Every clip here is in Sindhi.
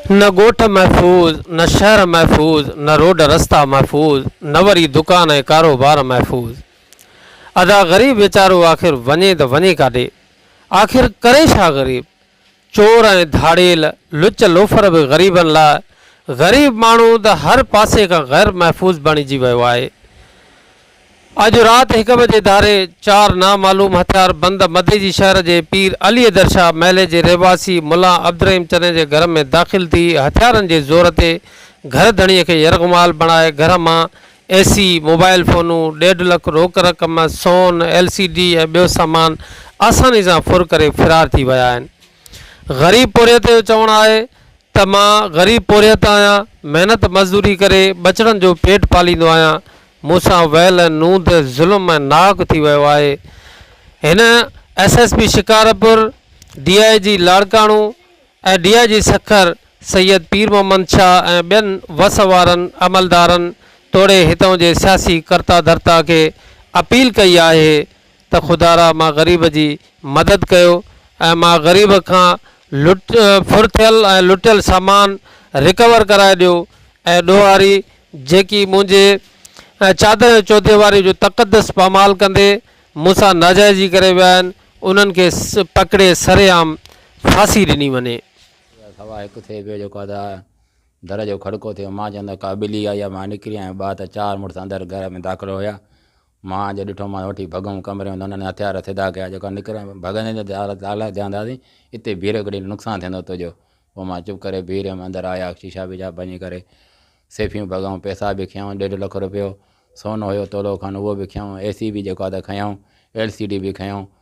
نه ڳوٺ محفوظ، نه شهر محفوظ، نه روڊ رستا محفوظ، نه وري دڪان ۽ ڪاروبار محفوظ. ادا غريب ويچارو آخر وڃي ته وڃي ڪاڏي؟ آخر ڪري ڇا غريب؟ چور ۽ ڌاڙيل، لچ لوفر به غريبن لاء، غريب ماڻهو ته هر پاسي کان غير محفوظ بڻجي ويو آهي. اڄ رات هڪ بجي ڌاري چار نامعلوم هٿيار بند مديجي شهر جي پير علي درشاهه محلي جي رهواسي ملا عبدالرحيم چني جي گهر ۾ داخل ٿي هٿيارن جي زور تي گهر ڌڻي کي يرغمال بڻائي گهر مان اي سي، موبائل فونون، ڏيڍ لک روڪ رقم، سون، ايل سي ڊي ۽ ٻيو سامان آساني سان ڦر ڪري فرار ٿي ويا آهن. غريب پورهيت جو چوڻ آهي ته مان غريب پورهيت آهيان، محنت مزدوري ڪري ٻچڙن جو پيٽ پاليندو آهيان، مون سان ويل نوند ظلم ۽ ناحق ٿي ويو آهي. هن S S P Shikarpur, D I G Larkana ۽ D I G Sukkur Syed Pir Muhammad Shah ۽ ٻين وس وارن عملدارن توڙي هتان جي سياسي ڪرتا ڌرتا کي اپيل ڪئي آهي ته خدا را مان غريب جي مدد ڪيو ۽ مان غريب کان لٽ ڦر ٿيل ۽ لٽيل سامان رڪور ڪرائي ڏيو ۽ ڏوهاري جيڪي منهنجي چادر ۽ چوديواري جو تقدس پامال ڪندي مون سان ناجائزي ڪري ويا آهن انهن کي پڪڙي سري عام ڦاسي ڏني وڃي. اها سوا هڪ ٿئي پيو جيڪو ادا در جو کڙڪو ٿيو مان چوندو ڪا ٻلي آئي يا مان نڪري آيم ٻا ته چار مڙس اندر گهر ۾ داخل هيا. مان جو ڏٺو مان وٺي ڀڳيم ڪمري ۾ ته هنن هٿيار سڌا ڪيا جيڪا نڪري ڀڳندين ته دار تالا ٿيا هوندا سين اتي بيهه رهيو ڪڏهن نقصان ٿيندو تنهنجو پوء مان چپ ڪري بيهه رهيم اندر آيا شيشا ويشا ڀڃي ڪري سيفيون ڀڳائون پئسا به کنيائون ڏيڍ لک رپيو سونو هيو تولو کن اهو به کنيائون اي سي به جيڪو آهي ته کنيائون ايل سي ڊي به کنيائون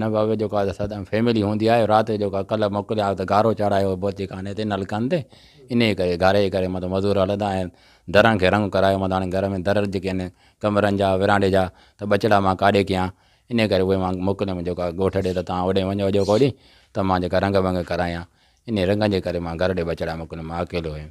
نه ڪو اڳ جو ڪا سدائين فيملي هوندي آهي رات جو ڪا ڪلهه موڪليا ته گارو چاڙهايو بوتي خاني تي نلڪن تي انهي ڪري گاري جي ڪري مطلب مزور هلندا آهن درن کي رنگ ڪرايو مطلب هاڻي گهر ۾ در جيڪي آهن ڪمرن جا ورانڊي جا ته ٻچڙا مان ڪاڏي ڪيان انهي ڪري اهي مان موڪليم جو ڪا ڳوٺ ڏي ته تان هوڏي وڃو اڄو ڪو ڏينهن ته مان جيڪا رنگ ونگ ڪرايان انهي رنگن جي ڪري مان گهر ڏي ٻچڙا موڪليم مان اڪيلو هيم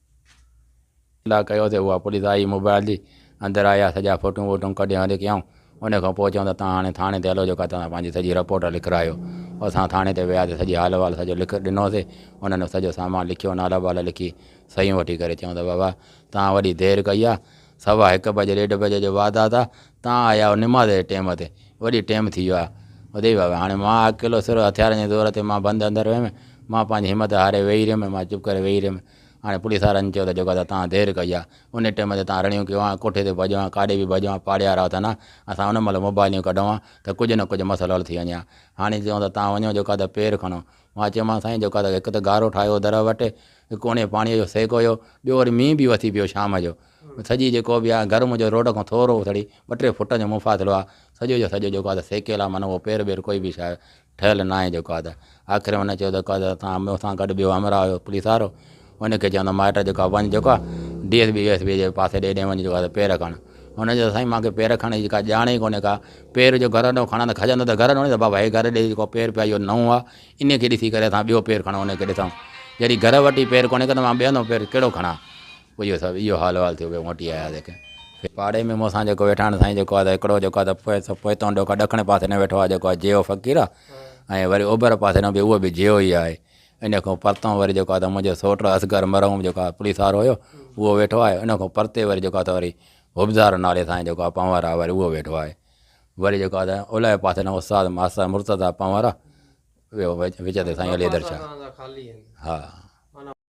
اطلاع ڪيو تھ اھا پوليس آئي موبائيل جي اندر آئي يا سڄا فوٽون ووٽون ڪڍي ھر ھڪ ڪيائون ان کان پوء چيائون تھ تھان ھاڻي ٿاڻي تي ھلو جيڪا تھان پنھنجي سڄي رپورٽ لکرايو اسان ٿاڻي تي وياسي سڄي حال احوال سڄو لک ڏنوسي انھن سڄو سامان لکيو نالا بالا لکي صحيحون وٺي ڪري چيائون تھ بابا تھان وڏي دير ڪئي آ سوا ھڪ بجي ڏيڍ بجي جو واڌات آ تان آيا آهيو نماز جي ٽيم تي، وڏي ٽيم ٿي ويو آهي. ادي بابا، هاڻي مان اڪيلو سر هٿيارن جي زور تي مان بند اندر هيم. مان پنهنجي همت هاري ويهي رهيم، مان چپ ڪري ويهي رهيم. هاڻي پوليس وارن چيو ته جيڪو تان دير ڪئي آهي، انهي ٽيم تي تان رڙيون ڪيون آهن، ڪوٺي تي ڀڄيو آهين، ڪاڏي به ڀڄيو آهين، پاڙيهارا اٿن ها، اسان ان مهل موبائليون ڪڍون ها ته ڪجهه نه ڪجهه مسئلو حل ٿي وڃي ها. هاڻي چئون ته تان وڃو جيڪو ته پير کڻو. مان چيومانس سائين جيڪو ته هڪ ته گارو ٺاهيو هو در وٽ، هڪ اڻي پاڻيء جو سيڪ هيو، ٻيو وري مينهن به وسي پيو شام جو. سڄي جيڪو به آ گرم جو روڊ کان ٿورو اٿڙي ٻه ٽي فٽن جو مفاصلو آ سڄو جو سڄو جيڪو آ ته سيڪيل آ معنيٰ اهو پير ٻير ڪوئي به شايد ٺهيل ناهي جيڪو آ ته آخر ۾ هن چيو جيڪو آ ته اسان مون سان گڏ ٻيو همراهه هيو پوليس وارو ان کي چيو ته مائٽ جيڪو آ وڃ جيڪو آ D S B V S B جي پاسي ڏي ڏي وڃ جيڪو آ ته پير کڻ هن چيو سائين مانکي پير کڻڻ جي ڪا ڄاڻ ئي ڪونهي ڪا پير جو گهر ڏانهن کڻان ته کڄندو ته گهر ڏانهن ته بابا هي گهر ڏي جيڪو پير پيو آ اهو نئون آ ان کي ڏسي ڪري اسان ٻيو پير کڻون ان کي ڏسون جڏهن گهر وٽ ئي پير ڪونهي ڪه ته مان ٻيو نئون پير ڪهڙو کڻان اهو سڀ اهو حال احوال ٿيو ڪي موٽي آيا ڪي ڦير پاڙي ۾ مون سان جيڪو ويٺا سائين جيڪو آ هڪڙو جيڪو آ ته پوئتون ڏوڪا ڏکڻ پاسي نه ويٺو آ جيڪو آ جيو فقير آ ۽ وري اوڀر پاسي نه به اهو به جيو ئي آهي ان کان پرتون وري جيڪو آ ته منهنجو سوٽ اصغر مرحوم جيڪو آ پوليس وارو هيو اهو ويٺو آهي ان کان پرتي وري جيڪو آ ته وري حبزار نالي سائين جيڪو آ پنهور آ وري اهو ويٺو آهي وري جيڪو آ ته اولهه پاسي نه استاد ماستر مرتضيٰ پنهور آ وچ تي سائين علي حيدر شاهه ها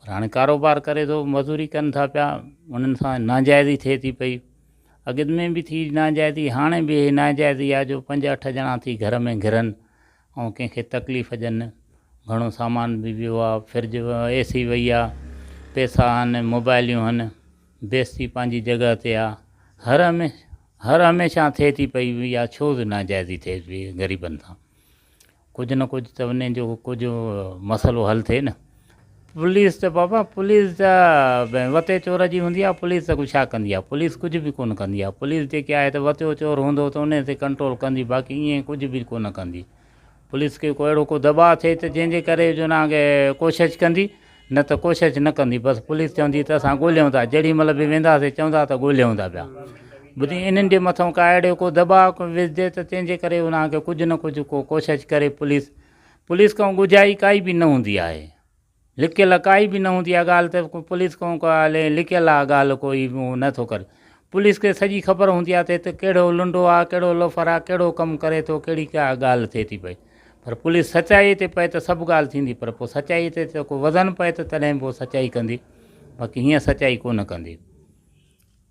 پر هاڻي ڪاروبار ڪري ٿو مزوري ڪن ٿا پيا انهن سان ناجائزي ٿئي ٿي پئي اڳ ۾ به ٿي ناجائزي هاڻي به هي ناجائزي آهي جو پنج اٺ ڄڻا ٿي گهر ۾ گهرن ۽ ڪنهن کي تڪليف ڏين گهڻو سامان به ويو آهي فرج اي سي وئي آهي پيسا آهن موبائليون آهن بيستي پنهنجي جڳهه تي آهي هر هميشه هر هميشه ٿئي ٿي پئي اها ڇو ناجائزي ٿئي پئي غريبن سان ڪجهه نه ڪجهه ته وڃي جو ڪجهه مسئلو حل ٿئي نه. پوليس ته بابا پوليس ته وتي چور جي هوندي آهي پوليس ته ڇا ڪندي آهي پوليس ڪجهه به ڪونه ڪندي آهي پوليس جيڪي آهي ته وتيو چور هوندو ته انهي تي ڪنٽرول ڪندي باقي ائين ڪجهه به ڪونه ڪندي پوليس کي ڪو اهڙو ڪو دٻاء ٿئي ته جنهن جي ڪري جو نانگي ڪوشش ڪندي نه ته ڪوشش نه ڪندي بس پوليس چوندي ته اسان ڳوليون ٿا جهڙي مهل به وينداسي چوندا ته ڳوليون ٿا پيا ٻڌي انهن جي مٿو ڪا اهڙو ڪو دباء وجهجي ته تنهن جي ڪري انهن کي ڪجهه نه ڪجهه ڪو ڪوشش ڪري پوليس پوليس کان ڳجهائي ڪائي به نه هوندي آهي لڪيل ڪائي به نه هوندي آهي ڳالهه ته پوليس کان ڪا لڪيل آهي ڳالهه ڪوئي نه ٿو ڪري پوليس کي سڄي خبر هوندي آهي ته هت ڪهڙو لنڊو آهي ڪهڙو لوفر آهي ڪهڙو ڪم ڪري ٿو ڪهڙي ڪا ڳالهه ٿئي ٿي پئي پر پوليس سچائي تي پئي ته سڀ ڳالهه ٿيندي پر پوء سچائي تي ته ڪو وزن پئي ته تڏهن پوء سچائي ڪندي باقي هينئن سچائي ڪونه ڪندي.